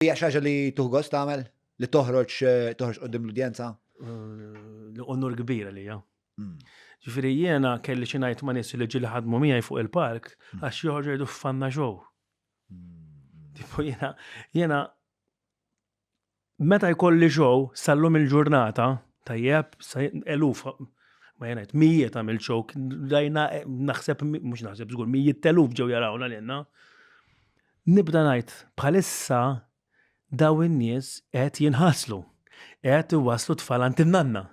Hija xi ħaġa li tuħ gost tagħmel? Li toħroġ toħroġ qudiem l-udjenza? Li onur kbir li hija. Hmm. Ġifieri jiena kelli xi ngħid ma' nies li ġieli ħadmu miegħi fuq il-park hmm. għax joħorġu jgħidu fanna ġew. Hmm. Tipo jiena jiena meta jkolli ġew sallum il-ġurnata tajjeb eluf ma jenet, mijiet għamil ċok, dajna eh, naħseb, mux naħseb zgur, mijiet teluf ġew jarawna l-jenna. Nibda ngħid, bħalissa dawn in-nies qed jinħaslu, qed iwasslu t-tfal għand in-nanna,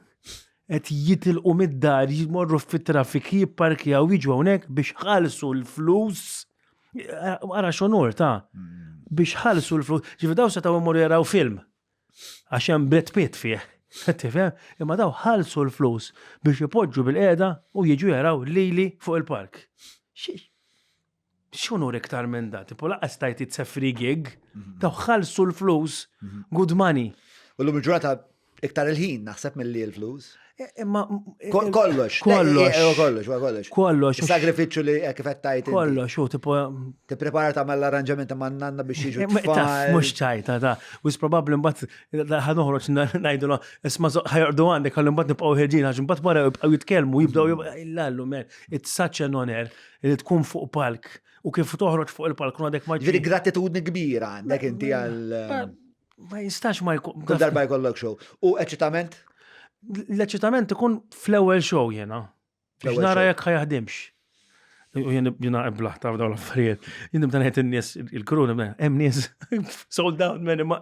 qed jitilqu mid-dar, jmorru fit-traffic, jipparkjaw, jiġu hawnhekk biex jħallsu l-flus, ara x'onur ta', biex jħallsu l-flus, ġifieri dawn setgħu jmorru jaraw film għax hemm Brad Pitt fih, tifhem? Imma dawn ħallsu l-flus biex ipoġġu bil-qiegħda u jiġu jaraw lili fuq il-park. X'unur iktar minn da, tipo laqqas tajt it's a free gig, mhm. taw ħalsu l-flus, mhm. good money. U l-lum ġurata iktar il-ħin naħseb mill-li l-flus. E, e, e, kollox, kollox, kollox, kollox. Kollox. Sagrifiċu li kifet tajt. Kollox, u tipo. Ti prepara ta' mall arranġament ma' nanna biex jiġu. Mux ċajta, ta' u s-probabli mbat ħanuħroċ najdulu, isma ħajordu għandek għallu mbat nibqaw ħeġin, għax mbat wara jibqaw jitkelmu, jibdaw jibqaw jillallu, man, it's such an honor. li tkun fuq palk u kif toħroġ fuq il-palk u għadek ma ġiri. Gratitudni kbira għandek inti għal. Ma jistax ma jkun. Kull darba jkollok show. U eċitament? L-eċitament ikun fl-ewwel show jena. Biex nara jekk ħajaħdimx. U jien jina eblaħ ta' dawn l-affarijiet. Jien nibda ngħid in-nies il-kru nibda hemm nies sold out minn ma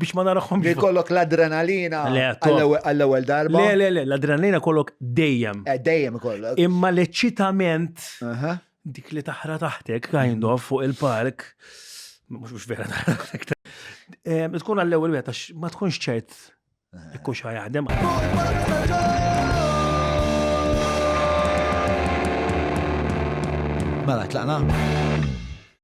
biex ma narahom. Li kollok l-adrenalina għall-ewwel darba. Le, le, le, l-adrenalina kollok dejjem. Eh, dejjem kollok. Imma l-eċitament dik li taħra taħtek, kind of, fuq il-park, mux mux vera taħra taħtek. Eh, tkun għall-ewwel wieħed għax ma tkunx ċert ikux ħajaħdem. Mela, tlaqna?